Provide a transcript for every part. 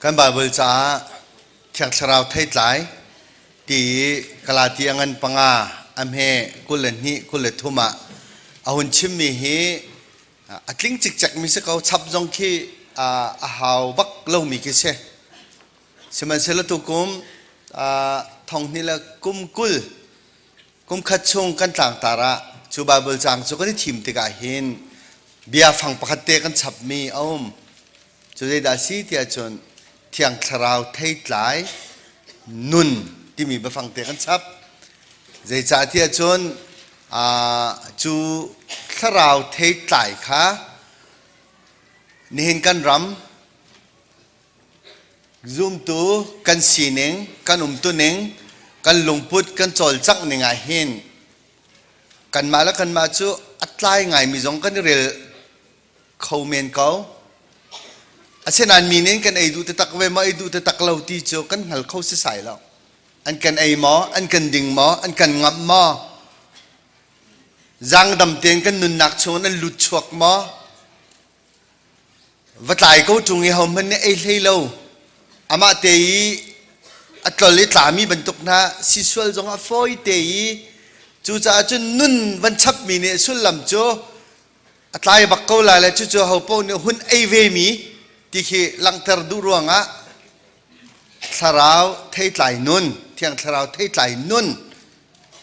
Kan Baibal caah Thiang Thlarau theitlai ti i Galati a ngan panga a hme kul le hnih kul le thum ah a hun chimmi hi a tling cikcekmi si ko chap zong khi a hau bak lomi khi si. Sihmanhsehlaw tu kum thonghnih le kum kul Kumkhat chung kan tlangtar ah cu Baibal caang cu kan i thim tikah hin biafang pakhat te kan chapmi a um. Cu zeidah a si tiah cun thiang thlarau theitlai nun timi biafang te kan chap. Zeicahtiah cun aa, cu thlarau theitlai kha nihin kan ram Zumtu kan sining, kan umtuning, kan lungput kan cawlcangh ning ah hin kanmah le kanmah cu a tlai ngaimi zong kan i rel kho men ko. Asinain mi nih kan ei duh taktak ve maw, ei duh taktak lo ti cu kan hngal kho sisai lo. An kan ei maw, an kan ding maw, an kan ngamh maw, zangdam tein kan nunnak chungin an lut chuak maw, Va tlai ko ṭung i hohmanh nih ei hlei lo. Amah te i a tlol i tlami bantuk hna si sual zong ah fawi te i cucaah cun nun van chapmi nih sullam cu a tlai bak ko lai le cucu hopaoh nih hun ei vemi ti khi langhter duh ruangah thlarau theitlai nun thiang thlarau theitlai nun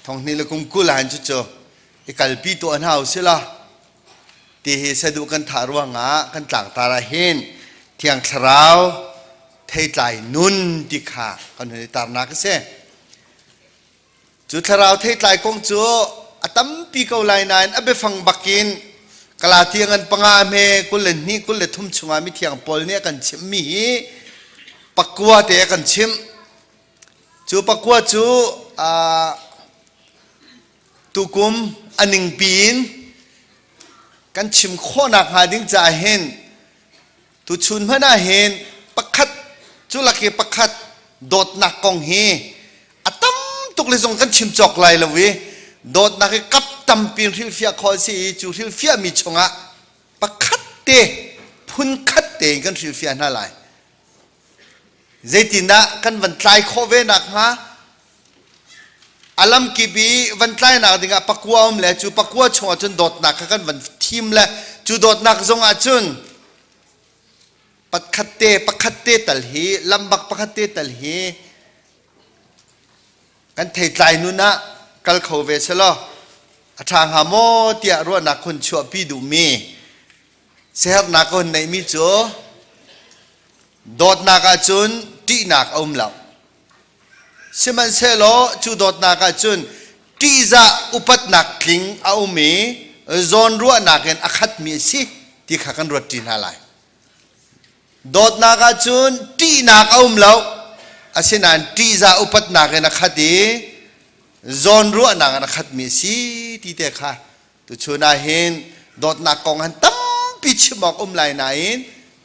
thonghni le kum kul ah hin cucu i kalpi tuah hna u sih la. ti hi saduh kan thah ruangah kan tlangtar ah hin thiang thlarau theitlai nun ti kha kan hun i tarnak a si cu thlarau theitlai kong cu a tampi ko lai nain a biafang bakin kalatiang an panga hme kul le hnih kul le thum chungah mithiang paul nih a kan chimhmi hi pakua te a kan chimh cu pakua cu uh, tukum a ningpi in kan chim khawhnak hnga ding caah hin tuchun hmanh ah hin pakhat cu lak i pakhat dawtnak kong hi a tam tuk le zong kan chim cawk lai lo i dawtnak i kap tampi in hrilhfiah khawh a si i cu hrilhfiahmi chungah pakhat te phunkhat te in kan hrilhfiah hna lai Zeitindah kan van tlai khawh ve nakhnga a lamkip i van tlainak dingah pakua um le cu pakua chungah cun dawtnak kha kan van thim le cu dawtnak zongah cun pakhat te pakhat te tal hi lambak pakhat te tal hi kan thei tlai nun ah kal kho ve selaw a ṭha hnga maw tiah ruahnak hun chuahpi duhmi Siherhnak ka hun neihmi cu dawtnak ahcun ṭihnak a um lo. Sihmanhsehlaw cu dawtnak ahcun ṭihzah upatnak tling a um i zawnruahnak in a khatmi a si ti kha kan ruat ṭi hna lai. Dawtnak ahcun ṭihnak a um lo, asinain ṭihzah upatnak in a khat i zawnruahnak in a khatmi a si ti te kha Tuchun ah hin dawtnak kong han tampi chim awk um lai nain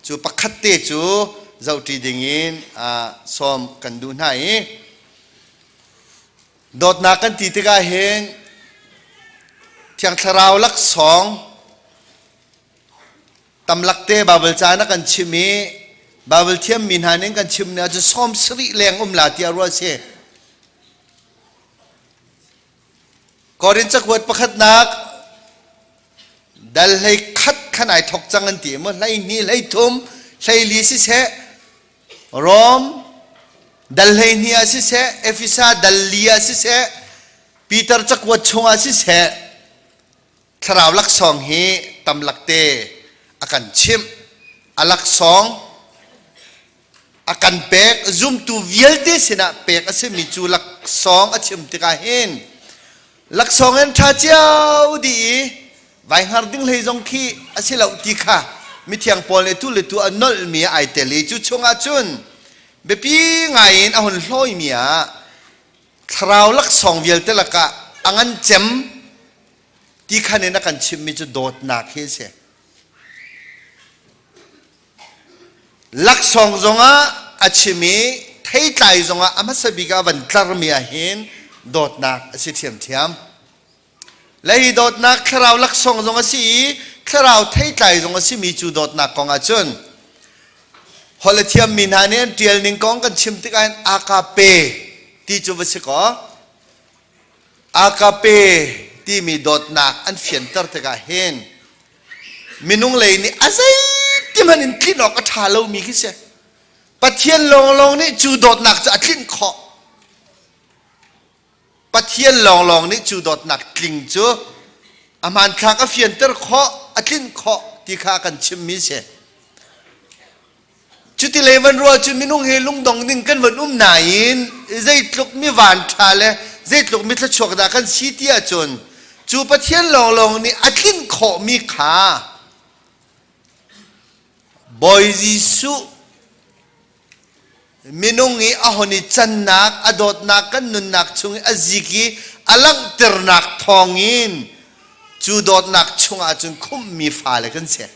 cu pakhat te cu zohṭi dingin sawm kan duh hna i dawtnak kan ti tikah hin Thiang Thlarau laksawng tamlak te Baibal ca na kan chim i Baibal thiammi hna nih kan chim ni ahcun sawm sarih leng um la tiah ruah a si. Korin cakuat pakhatnak dal hlei khat khan ai thok cang an ti maw hlei hnih hlei thum hlei li siseh Rom dal hlei hnih ah siseh Efesa dal li ah siseh Peter cakuat chungah siseh thlarau laksawng hi tam lakte a kan chimh a laksawng a kan pek zumtu vialte sinah pek a simi cu laksawng a chim tikah hin laksawng in ṭha cio di i vai hngar ding hlei zong khi a si lo ti kha mithiang paul nih tu le tu a nolhmi ai tel i cu chungah cun biapi ngai in a hun hlawimi ah thlarau laksawng vialte lakah a ngan cem ti khan in a kan chimhmi cu dawtnak hi a si laksawng zongah a chim i theitlai zongah a hmasa bik ah van tlarmi ahhin dawtnak a si ṭhiamṭhiam le hi dawtnak thlarau laksawng zong a si i thlarau theitlai zong a simi cu dawtnak kong ahcun holh a thiammi hna nih an ṭial ning kong kan chim tikah aa ka pe ti cu va si kaw Agape timi dawtnak an fianter tikah hin minung lei nih a zeiti hmanh in tlinh awk a ṭha lomi khi si. Pathian lawnglawng nih cu dawtnak cu a tlinh khawh. Pathian lawnglawng nih cu dawtnak tling cu a hmanthlak a fianter khawh, a tlinh khawh ti kha kan chimmi si. Cutilei van ruah cu minung hi lungdong ding kan van um nain zeitluk mi vanṭha le zeitluk mi thluachuak dah kan si ti ahcun cu Pathian lawnglawng nih a tlin khawhmi kha Bawi Jesuh minung i a hon i cannak a dawtnak kan nunnak chung i a zik i a langhternak thawng in cu dawtnak chung ahcun khumhmi fale kan si.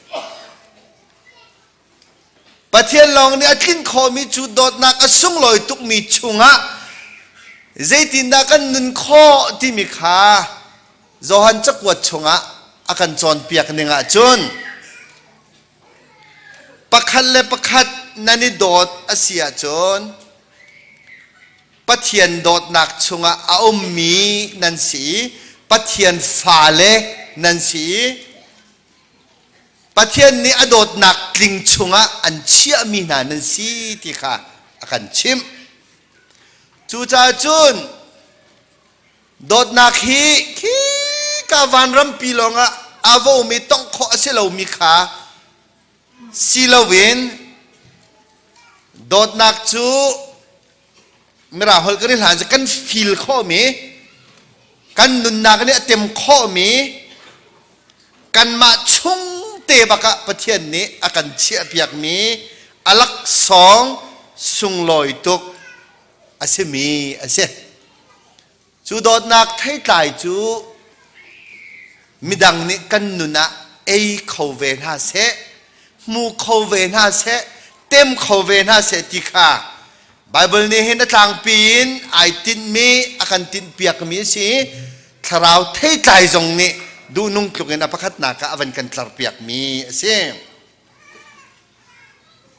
Pathian lawng nih a tlin khawhmi cu dawtnak a sunglawi tukmi chungah zeitindah kan nun khawh timi kha Johan cakuat chungah a kan cawnpiak ning ahcun pakhat le pakhat nan i dawt a si ahcun Pathian dawtnak chungah a ummi nan si i Pathian fale nan si i Pathian nih a dawtnak tling chungah an chiahmi hna nan si ti kha a kan chimh. Cucaah cun dawtnak hi khi ka vanrampi lawngah aa vomi tongh khawh a si lomi kha si loin dawtnak cu mirang holh kan i hlan kan feel khawhmi kan nunnak nih a tem khawhmi kanmah chung te bakah Pathian nih a kan chiahpiakmi alaksawng sunglawi tuk a simi a si Cu dawtnak theitlai cu midang nih kan nun ah ei kho ve hna seh, hmu kho ve hna seh, tem kho ve hna seh ti kha Baibal nih hin a tlangpi in ai tinhmi a kan tinhpiakmi a si i thlarau theitlai zong nih duhnung tluk in a pakhatnak ah a van kan tlarpiakmi a si.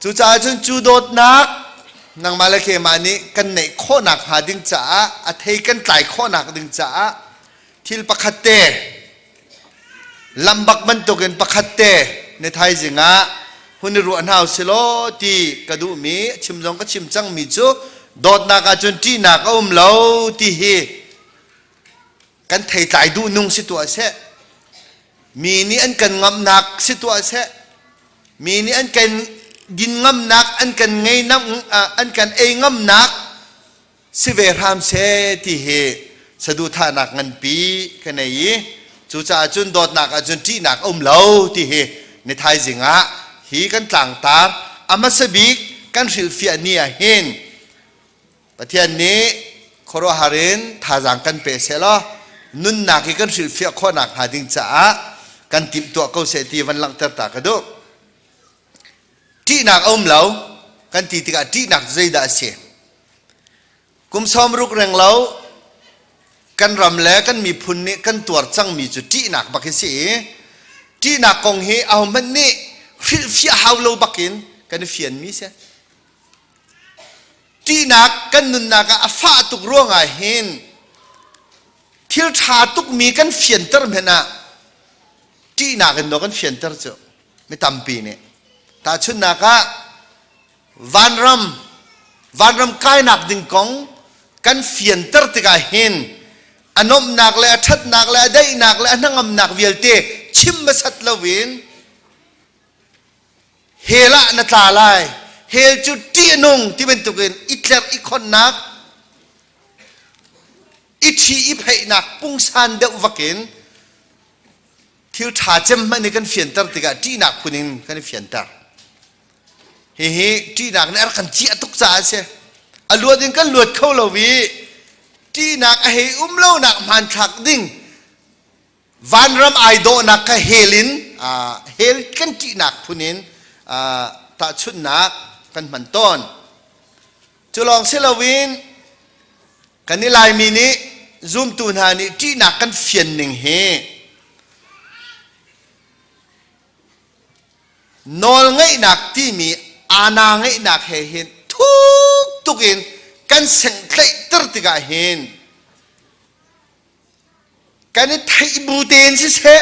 Cucaah cun cu dawtnak nangmahle keimah nih kan neih khawhnak hnga ding caah a thei kan tlai khawhnak ding caah thil pakhat te lambak bantukin pakhat te na thaizing ah hun i ruah hna u silaw ti ka duhmi chim zong ka chim cangmi cu dawtnak ahcun ṭihnak a um lo ti hi kan theitlai duh nung si tuah seh mi nih an kan ngamnak si tuah seh mi nih an kan din ngamnak an kan ngei nam an kan ei ngamnak si ve hram se ti hi saduhthahnak nganpi ka nei i cucaah cun dawtnak ahcun ṭihnak a um lo ti hi ni thaizing ah hi kan tlangtar a hmasa bik kan hrilhfiah ni ah hin Pathian nih khuaruahhar in thazaang kan pe sehlaw nunnak hi kan hrilhfiah khawh nakhnga ding caah kan timhtuah ko seh ti van langhter ta ka duh. Ṭihnak a um lo kan ti tikah ṭihnak zeidah a si? Kum sawm ruk reng lo kan ram le kan miphun nih kan tuar cangmi cu ṭihnak bak hi si i ṭihnak kong hi ahohmanh nih hrilhfiah hau lo bak in kan i fianmi si. ṭihnak kan nunnak ah a fah tuk ruangah hin thil ṭha tukmi kan fianter hmanh ah ṭihnak in maw kan fianter cu mi tampi nih tahchunhnak ah vanram vanram kainak ding kong kan fianter tikah hin a nomhnak le a ṭhatnak le a daihnak le a hnangamnak vialte chim hmasat loin hell ah na tla lai hell cu ṭihnung ti bantukin i tlerh i khonnak i ṭhi i pheihnak pungsan deuh vakin thil ṭha cem hmanh nih kan fianter tikah ṭihnak phun in kan i fianter hihi ṭihnak nih a rak kan ciah tuk caah a si a luat in kan luat kho lo i ṭihnak a hei um lonak hmanthlak ding vanram ai dawhnak kha hel in hel kan ṭihnak phun in tahchunhnak kan hman tawn cu lawng si loin kan i laimi nih zumtu hna nih ṭihnak kan fian ning hi nawl ngeihnak timi ana ngeihnak he hin thuk tuk in kan sengtlaih ter tikah hin kan i theih bu tein siseh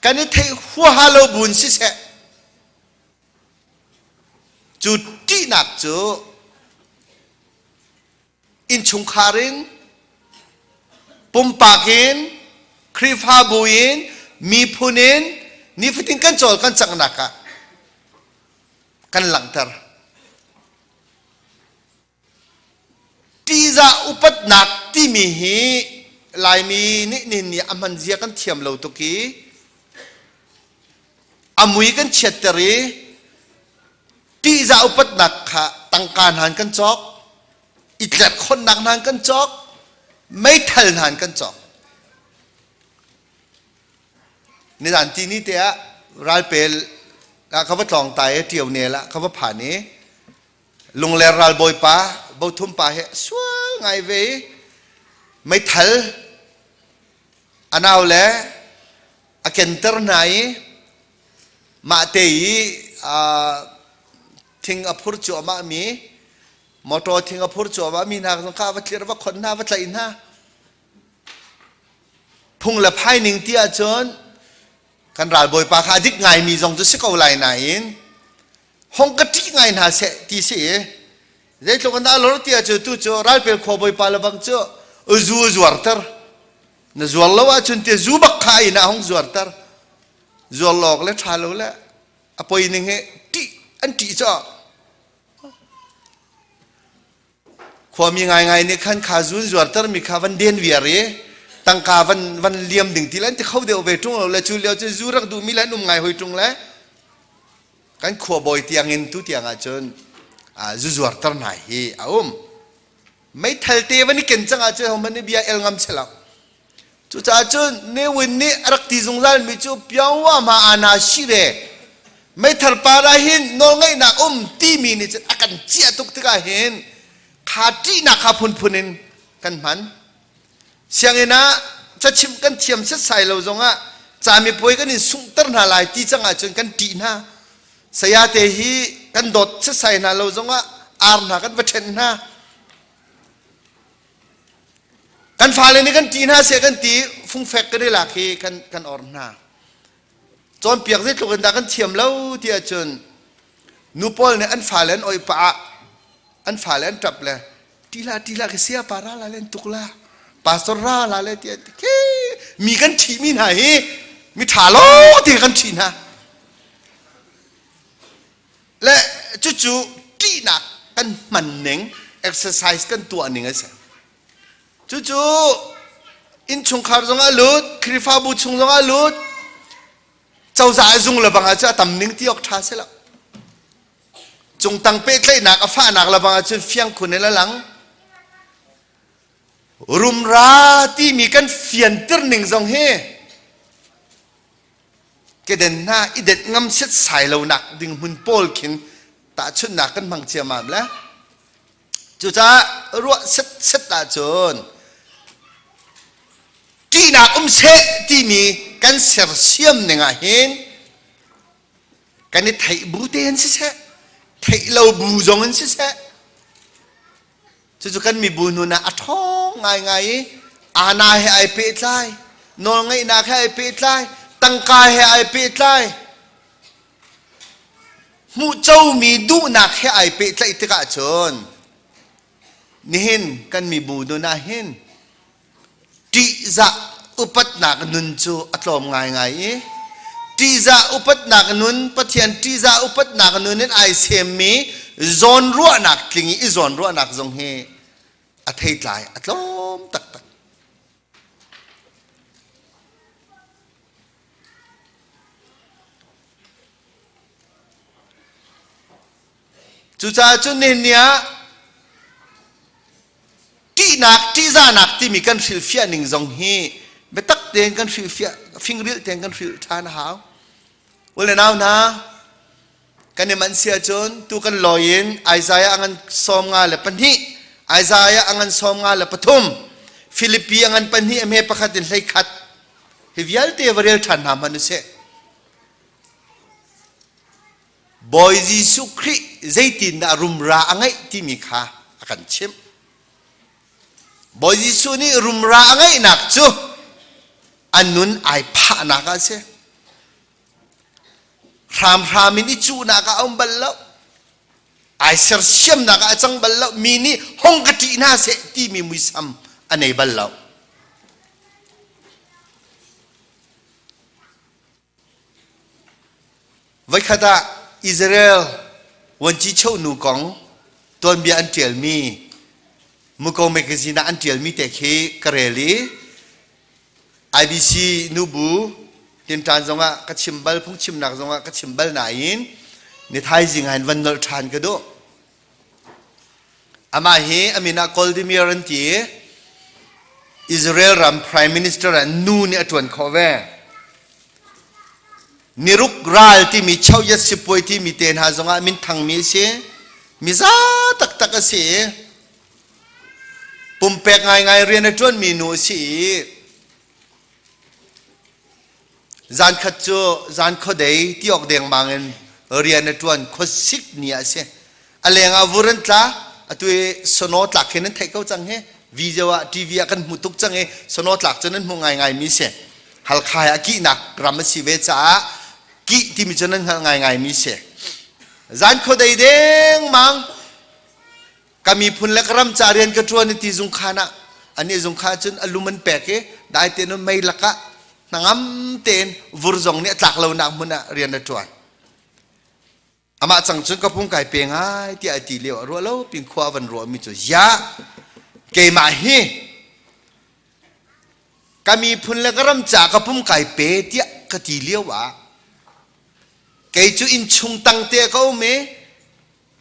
kan i theih huaha lo buin siseh cu ṭihnak cu innchungkhar in pumpak in Khrihfabu in miphun in nifatin kan cawl kan cangnak ah kan langhter. Ṭihzah upatnak timi hi Laimi nih nihin a hman zia kan thiam lo tuk i a mui kan chiatter i ṭihzah upatnak kha tangka hnan kan cawk, i tlerhkhonnak hnan kan cawk, meithal hnan kan cawk. Nizan ti ni te ah ralpel ka va tlawng ta i ṭio nel ah ka va phan i lungler ralbawi pa bothum pa he sual ngai ve i meithal anau le a kenter hna i mahte i thing a phur cuahmah mi motor thing a phur cuahmah mi hna kha va thlir va khon hna va tlaih hna phung le phai ning ti ahcun kan ralbawi pa kha a dik ngai mi zong cu si ko lai nain hong ka ṭih ngai hna seh ti si i zeitluk an alo ti ah cu tu cu ralpel khua bawipa lebang cu zu zuarter na zuar lo ahcun ti zu bak kha in ah hong zuarter zuar lawk le ṭha lo le a poi ning he ṭih an ṭih cu Khuami ngaingai nih khan kha zun zuartermi kha van den viar i tangka van van liam ding ti le ti kho deuh ve ṭung lo le cu lio cun zu rak duhmi le an um ngai hoi ṭung le kan khuabawi tiang in tu tiang ahcun zu zuarter hna hi a um meithal te van i ken cang ahcun hohmanh nih bia el ngam selo Cucaah cun Ne Win nih a rak ti zungzalmi cu Pyongwa ma ana shire meithal para hin nawlngeihnak um timi nih cun a kan ciah tuk tikah hin kha ṭihnak kha phunphun in kan hman. Sianginn ah cachim kan thiam setsai lo zongah camipuai kan in sunghter hna lai ti cang ahcun kan ṭih hna. Sayate hi kan dawt setsai hna lo zongah ar hna kan va ṭhenh hna. Kan fale nih kan ṭih hna siah kan ti fungfek kan i lak hi kan kan orm hna. Cawnpiak zeitluk in dah kan thiam lo ti ahcun nu pawl nih an fale an oipa ah an fale an ṭap le ṭila ṭila khi sia pa ra la len tuk la pastor ra la le ti an ti ke mi kan ṭhi mi hna hi mi ṭha lo ti kan ṭhi hna le cucu ṭihnak kan hman ning exercise kan tuah ning a si cucu innchungkhar zongah lut khrifabu chung zongah lut cozah a zung le bangah cu a tam ning ti awk ṭha si lo cung tang pehtlaihnak a fahnak le bangah cun fiang khun in a lang rumra timi kan fiantir ning zong hi Keden hna i det ngam setsai lonak ding hmun pawl khin tahchunhnak kan hmang ciamam le cucaah ruah set set ahcun ṭihnak um seh timi kan sersiam ning ah hin kan i theih bu te in siseh theih lo bu zong in siseh Cucu kan mibu nun ah a ṭhawng ngaingai i ana he ai pehtlai, nawlngeihnak he ai pehtlai, tangka he ai pehtlai, hmuhcomi duhnak he ai pehtlaih tikah cun nihin kan mibu nun ah hin ṭihzah upatnak nun cu a tlawm ngaingai i ṭihzah upatnak nun Pathian ṭihzah upatnak nun in ai semmi zawn ruahnak tling i zawn ruahnak zong hi a theitlai a tlawm taktak Cucaah cu nihin ah ṭihnak, ṭihzahnak timi kan hrilhfiah ning zong hi biatak tein kan hrilhfiah, fingrilh tein kan hrilh ṭhan a hau. Ul le nau hna, kan i manh si ahcun tu kan lawi in Isaiah ngan sawm nga le pahnih, Isaiah ngan sawm nga le pathum, Filipi ngan pahnih a hme pakhat in hlei khat, hi vialte va rel ṭhan hna hmanh u sih. Bawi Jesuh Khrih zeitindah rumra a ngeih timi kha a kan chimh. Bawi Jesuh nih rumra a ngeihnak cu a nun ai phahnak a si. Hramhram in i cuhnak ah a um bal lo. Ai sersiamnak ah a cang bal lo. Mi nih hong ka ṭih hna seh timi muisam a nei bal lo. Voikhat ah Israel vuancicheu nu kong tuanbia an ṭialmi Muko mekazin ah an ṭialmi te khi ka rel i IBC nubu tinṭan zongah ka chim bal, phungchimnak zongah ka chim bal nain ni thaizing ah hin van nolh ṭhan ka duh. Amah hi a min ah Koldimir an ti i Israel ram prime minister ah nu nih a ṭuan khawh ve. Niruk ral timi choyat sipuai timi te hna zongah minthangmi a si. Miza taktak a si i pumpek ngaingai rian a ṭuanmi nu a si i Zankhat cu zan khuadei ti awk dengmang in rian a ṭuan khuasik ni ah a si. A lengah vur an tla, atu i sono tlak hin an theih ko cang hi. Video ah, TV ah kan hmu tuk cang i sono tlak cun an hmuh ngaingaimi si. Halkha he a kihnak ram a si ve caah kih timi cun an hngalh ngaingaimi si. Zan khuadei dengmang ka miphun le ka ram ca rian ka ṭuan i ti zungkhan ah anih zungkhan cun a lum an pek i dai tein mei lakah hnangam tein vur zong nih a tlak lonak hmun ah rian a ṭuan amah cang cun ka pung kai pe ngai tiah a ti lio a ruah lo pin khua a van ruahmi cu ya keimah hi ka miphun le ka ram ca ka pum kai pe tiah ka ti lio ah kei cu inn chung tang te ka um i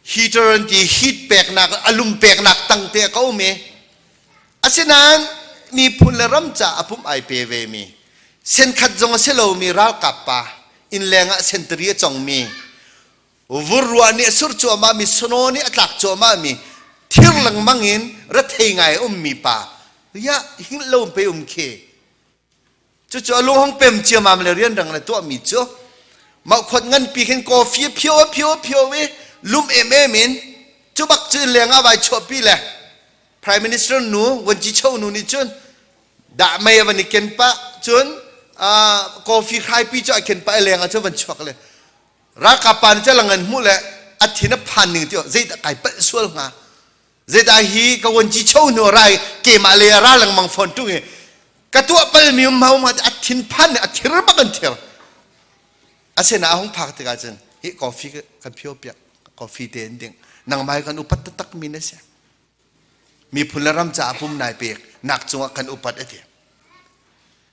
Heater an ti heat peknak a lum peknak tang te a ka um i asinain miphun le ram ca a pum ai pe ve mi senkhat zong a si lomi ralkap pa innleng ah sentari a congmi vurruah nih a sur cuahmah mi sano nih a tlak cuahmah mi thir lengmang in rethei ngai a ummi pa ya hinglo pe um khi Cucu a lu hong pem ciamam le rian rang le tuahmi cu mah khot nganpi khin coffee phio phio phio i lum em em in cu bak cu lengah vai chuahpi le prime minister nu Wanji Cho nu nih cun dah mei van i ken pah cun coffee hraipi cu a ken pah i lengah cun van chuak le ralkap pa nih cu langan hmuh le a thin a phan ning ti zeidah kai palh sual hnga Zedah hi ka wan ci cho hnu rai keimah le ra lengmang fawn tung i ka tuah palmi um hau ma a thin phan a thir bak an thir a sen a hung phak tikah cun hi coffee kan phio piak coffee te in ding nangmai kan upat taktak mi na si miphun le ram caah pum nai pek nak cungah kan upat a ti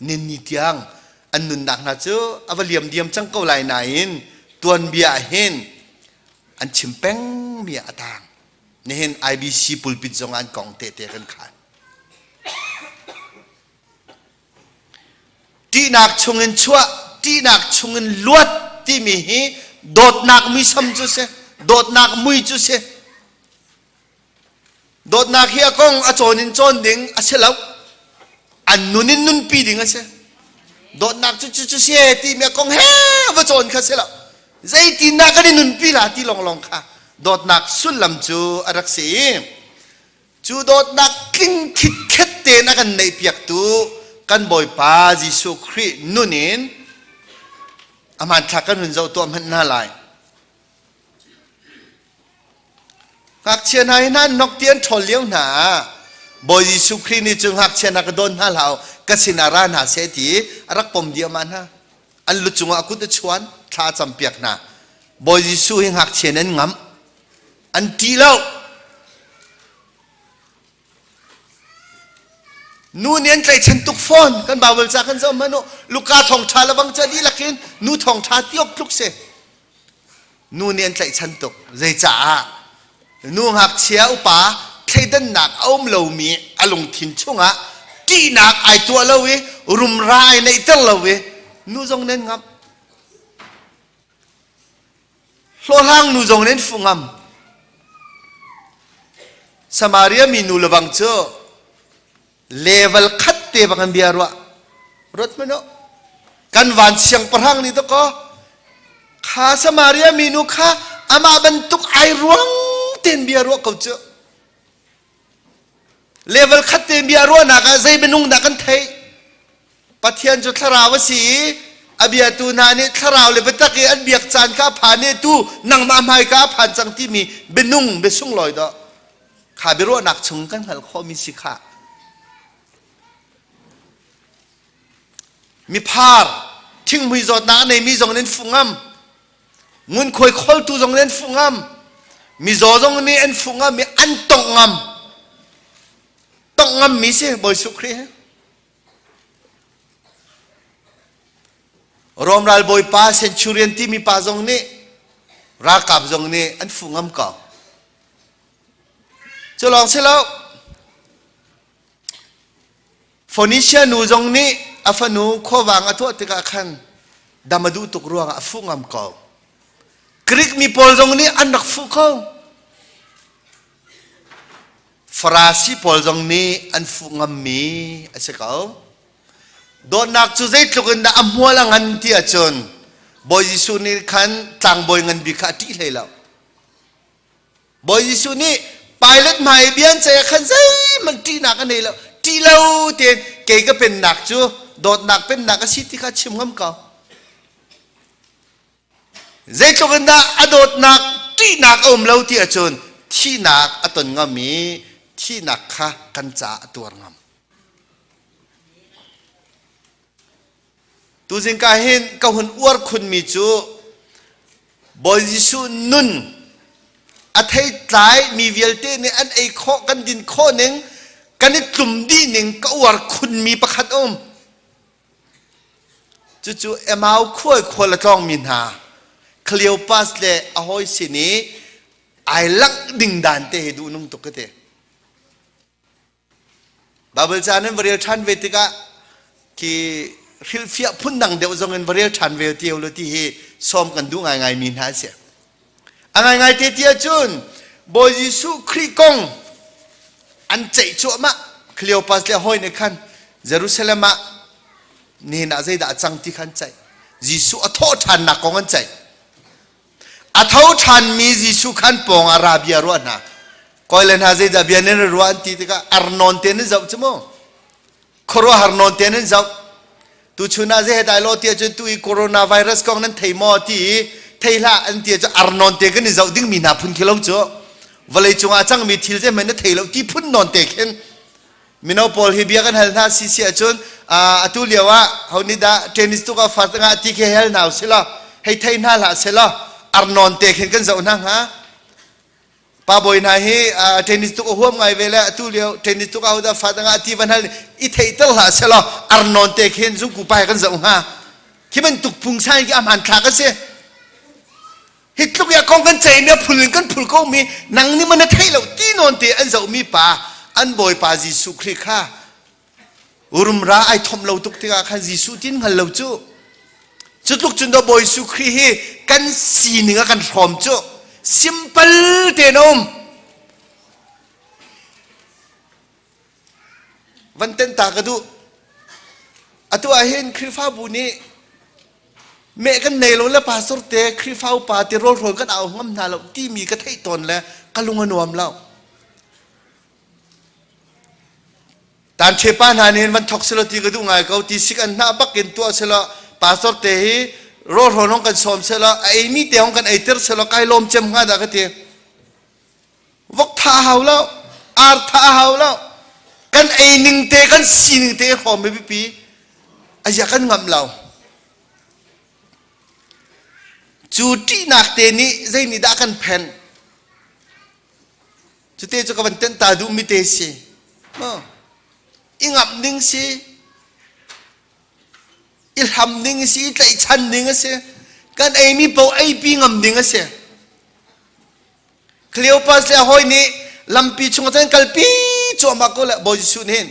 ninni tiang an nunnak hna cu a va liam diam cang ko lai nain tuanbia ah hin an chim peng mi a tang nihin IBC pulpit zong an kong tehte kan khan ṭihnak chungin chuah ṭihnak chungin luat timi hi dawtnak muisam cu si dawtnak mui cu si Dawtnak hi a kong a cawn in cawn ding a si lo. An nun in nunpi ding a si. Dawtnak cu cu cu si ti mi a kong he va cawn kha si lo. Zeitindah kan i nunpi la ti lawnglawng kha dawtnak sullam cu a rak si i cu dawtnak tling khit khet tein a kan neih piaktu kan Bawipa Jesuh Khrih nun in a hmanthlak kan hun zoh tuah hmanh hna lai. Ngakchia hna hi nan nok ti an ṭhawl lio hna ah Bawi Jesuh Khrih nih cu ngakchia hna ka dawn hna hlah ka sinah ra hna seh ti a rak pom diahmah hna. An lu cungah kut a chuan, thla a campiak hna. Bawi Jesuh hi ngakchia in an ngamh. An ṭih lo. Nu nih an tlaichan tuk fawn kan Bible ca kan zoh hmanh u Luka thawngṭha le bang cu dihlak in nu thawngṭha tiawk tluk si nu nih an tlaihchan tuk zeicaah nu ngakchia upa thleidannak a um lomi a lungthin chungah ṭihnak ai tuah lo i rumra ai neihter lo i nu zong nan ngamh Hlawhhlang nu zong nin fu ngam. Samaria mi nu lawang cu level khat te bang an bia rua. Ruat man oh. Kan van siang pahrang ni to ko. Kha Samaria mi nu kha amah bantuk ai ruang ten bia rua ko cu. Level khat te bia ruahnak ah zei minung dah kan theih? Pathian cu thlarau a si i a biatu hna nih thlarau le biatak i an biak caan kha a phan i tu nangmah hmai ka a phan cang timi bianung biasung lawi dah kha biaruahnak chung kan hngal khawhmi si kha miphar thinghmui zawtnak a neimi zong in fungam ngunkhuai kholtu zong nih an fuh ngam mizaw zong nih an fuh ngam i an tongh ngam tongh ngam mi si bawi suh khrih Rom ral bawipa centurion timi pa zong nih ralkap zong nih an fuh ngam ko cu lawng si lo Phoenicia nu zong nih a fanu khuavang a tuah tikah khan dam a duh tuk ruangah a fuh ngam ko. Greek mi pawl zong nih an rak fuh ko. Farasi pawl zong nih an fuh ngammi a si ko. Dawtnak cu zeitluk in dah a hmual a ngan ti ahcun Bawi Jesuh nih khan tlangbawi ngan bik kha a ṭih hlei lo. Bawi Jesuh nih Pilate hmai bian caya khan zeihmanh ṭihnak a nei lo ṭih lo tein kei ka pennak cu dawtnak pennak a si ti kha chim ngam ko zeitluk in dah a dawtnak ṭihnak a um lo ti ahcun thihnak a ton ngam i thihnak kha kan caah a tuar ngam Tuzing ka hin ka hun uar khunmi cu Bawi Jesuh nun a thei tlai mi vialte nih an ei khawh kan din khawh ning kan i tlum dih ning ka uar khunmi pakhat um. Cucu Emau khual khual a tlawngmi hna Cleopas le a hawi sin i ai langh ding dan te hi duhnung tuk ka ti. Baibal caan in va rel ṭhan ve tikah khi hrilhfiah phun dang deuh zong in va rel ṭhan ve ti lo ti hi sawm kan duh ngaingai mi hna a si. A ngaingai te ti ahcun Bawi Jesuh Khrih kong an ceih cuahmah Cleopas le hawi nih khan Jerusalem ah nihin ah zeidah a cang ti khan ceih Jesuh a thawh ṭhannak kong an ceih A tho ṭhanmi Jesuh khan pawng ah ra bia ruah hna. Koi le hna zeidah bia nan ruah an ti tikah ar nawn te nan zoh cu mu. Khuaruahhar nawn te nan zoh. Tu chun ah zei he dai lo ti ahcun tu i coronavirus kong nan thei maw ti i thei hlah an ti ahcun ar nawn te kan i zoh dingmi hna phun khi lo cu vawlei cungah a cangmi thil zeihmanh na thei lo ti phun nawn te khin mino pawl hi bia kan hal hna si si ahcun atu lio ah honi dah tennis tuk ah far tangah ti khi hel hna selaw hei thei hna hlah selaw arnon te khin kan zoh hna hnga pa boi hna hi tennis tuk a huam ngai ve le atu lio tennis tuk ah hodah fa tangah ti van hal i thei tel hlah selaw arnon te khin zung ku pa kan zoh hnga khi ban tuk phung sai ki a man thlak a si Hi tluk i a kong kan ceih mi, a phul in kan phul ko mi, nang nih man na theih lo ti nawn te an zoh mi pa, an Bawipa Jesuh Khrih kha urumra ai thawm lo tuk tikah khan Jesuh tin hngal lo cu. Cu tluk cun do Bawi Jesuh Khrih hi kan sining a kan hrawm cu simple te na um. van ten ta ka duh atu ahhin Khrihfabu nih meh kan nei lo le pastor te Khrihfa upa te rawl hrawl kan au ngam hna lo timi ka theih tawn le ka lung a nuam lo tan chepa hna nih van thok selo ti ka duh ngai ko ti sik an hna bak in tuah selo pastor te hi rawl hrawl hong kan sawm selo a ei mi te hong kan ei ter selo kai lawm cem hnga da ka ti vok tha hau lo ar tha hau lo kan ei ning te kan si ning te hrawm mi pipi aziah kan ngam lo cu ṭihnak te nih zeinihdah kan phen cute cu ka van tenta duh mi te si i ngamh ding si i hlam ding a si i tlaihchan ding a si kan eimi paoh eipi ngam ding a si cleopas le hawi nih lampi chung cun kalpi cuahmak ko le bawi jesuh nih hin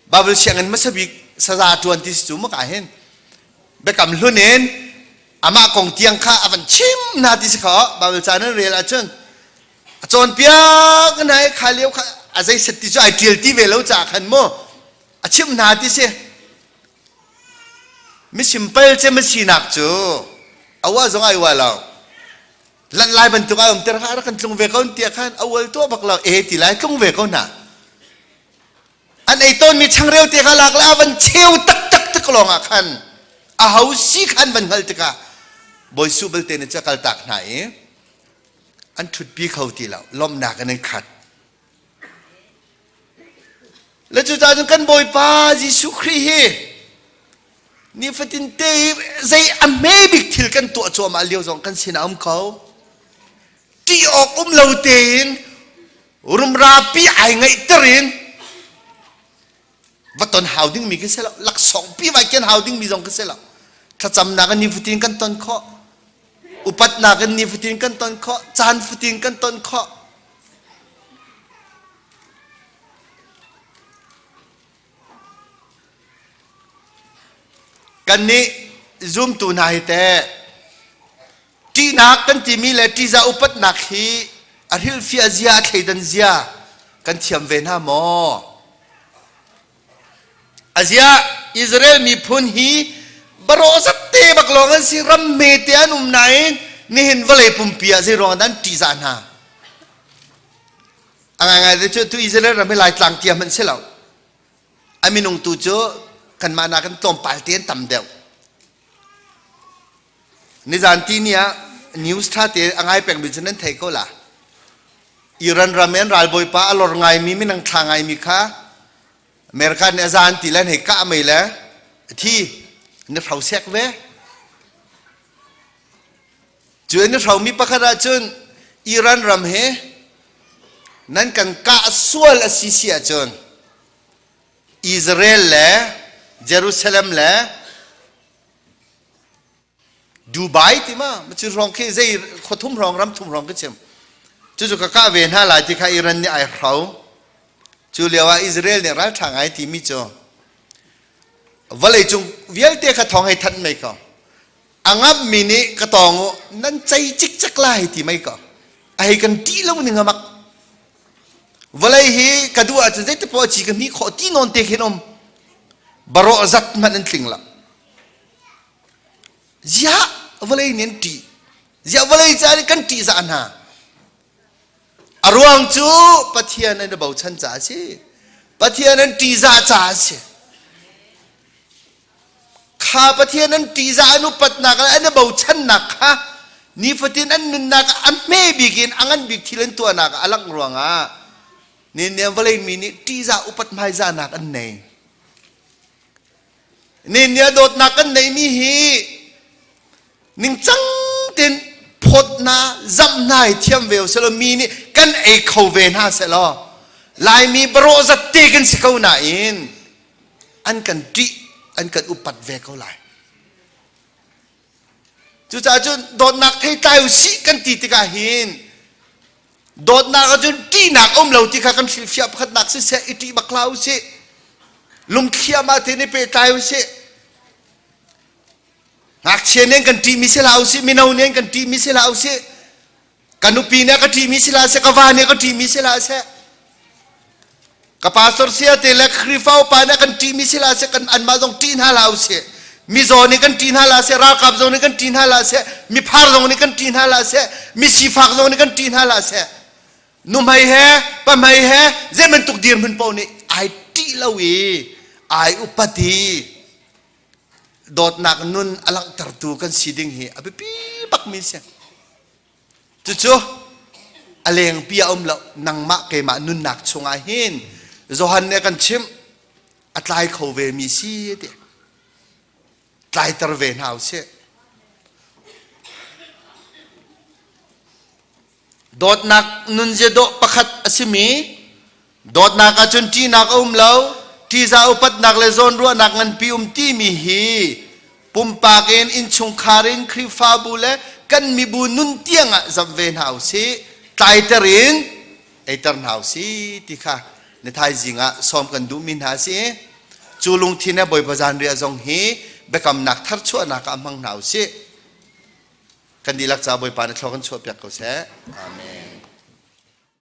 babel sianginn hmasa bik saza ṭuan ti si cu maka hin biakam hlun in amah kong tiang kha a van chim hna ti si kha babel caan in rel ahcun a cawnpiak hna i kha lio kha a zei set ti cu ai ṭial ti ve lo caah khan mu a chimh hna ti si mi simple ce mi sinak cu a wa zong ai wa lo lan lai bantuk ai um ter ha kan tlung ve ko tiah khan a wal to bak lo e ti lai tlung ve ko na an ei ton mi changreu te kha lak la van cheu tak tak tak long a khan a ho si khan van ngal tika boi su bel te ne cha kal tak hna i an thut pi kho ti lo lomnak an khat Le cucaah cun kan Bawipa Jesuh Khrih hi nifatin te hi zei a hme bik thil kan tuah cuahmah lio zong kan sinah a um ko ṭih awk um lo tein rumrapi ai ngaihter in baton hau ding mi kan si lo laksawng pi vai ken hau ding mi zong kan si lo thlacamnak in nifutin kan ton kho upatnak in nifutin kan ton kho caan futin kan ton kho kan nih zumtu hna hi teh ṭihnak kan timi le ṭihzah upatnak hi a hrilhfiah zia a thleidan zia kan thiam ve hna maw aziah Israel miphun hi baro zat te bak lawng an si ram me te an um nain nihin vawlei pumpi ah zei ruang dan ṭihzah hna a ngai te cu tu Israel ram hi laitlang tia hmanh si lo a minung tu cu kanmah nak kan tlawmpal te an tam deuh Nizan ti ni ah news ṭhate a ngai pengmi cu nan thei ko la. Iran ram in ralbawipa a lor ngaimi minang thla ngaimi kha America nih a zan ti le hei kah mei le thi na hro sek ve. Cu in hromi pakhat ahcun Iran ram hi nan kan kah sual a si si ahcun Israel le Jerusalem le Dubai ti ma cu hrawng khi zei khua thum hrawng ram thum hrawng khi chim cucu ka kah ve hna lai ti kha Iran nih ai hro cu lio ah Israel nih ral ṭha ngai timi cu vawlei cung vialte kha thawng hei thanh mei ko a ngamh mi nih ka tawng u nan cei cikcek lai ti mei ko a hei kan ṭih lo ning a mak Vawlei hi ka duh ahcun zeitipaoh poah ci ka hmi khawh ti nawn te khin um barawh zat hmanh an tling la ziah vawlei nih an ṭih ziah vawlei ca nih kan ṭih zah hna a ruang cu pathian an i bochan caah a si pathian an ṭih zah caah a si kha Pathian an ṭihzah an upatnak le an i bochannak kha nifatin an nunnak ah a hme bik in a ngan bik thil an tuahnak ah a langh ruangah nihin vawlei mi nih ṭihzah upat hmaizahnak an nei. Nihin dawtnak kan neihmi hi ningcang tin photna zamhnai thiam ve usilaw mi nih kan ei kho ve hna selaw laimi barawh zat te kan si ko nain an kan ṭih an kan upat ve ko lai cucaah cun dawtnak thei tlai u sih kan ti tikah hin dawtnak ahcun ṭihnak um lo ti kha kan hrilhfiah pakhatnak si seh i ṭih bak hla u sih lungthiam ah te ni pehtlai u sih ngakchia nih kan ṭihmi si hlah u sih mino nih kan ṭihmi si hlah u sih ka nupi nih a ka ṭihmi si la seh ka va nih a ka ṭihmi si la seh ka pastor sia te le Khrihfa upa nih a kan ṭihmi si la seh kan anmah zong ṭih hna la usih mizaw nih kan ṭih hna la seh ralkap zong nih kan ṭih hna la seh miphar zong nih kan ṭih hna la seh misifak zong nih kan ṭih hna la seh nuhmei he pamei he zeibantuk dirhmun paoh nih ai ṭih lo i ai upati dawtnak nun a langhtertu kan si ding hi a biapi bakmi si cucu a lengpi a um lo nangmah keimah nunnak chungah hin Johan nih kan chimh a tlai kho ve mi si ti tlaiter ve hna u sih Dawtnak nunzia dawh pakhat a simi dawtnak ahcun ṭinak a um lo ṭiza upatnak le zawnruahnak nganpi um timi hi pumpak in innchungkhar in Khrihfabu le kan mibu nun tiang ah zamh ve hna u sih tlaiter in eiter hna u sih ti kha na thaizing ah sawm kan duhmi hna si cu lungthin he Bawipa zanriah zong hi biakamnak tharchuahnak ah hmang hna u sih Kan dihlak caah Bawipa nih thluak kan chuahpiak ko seh. Amen.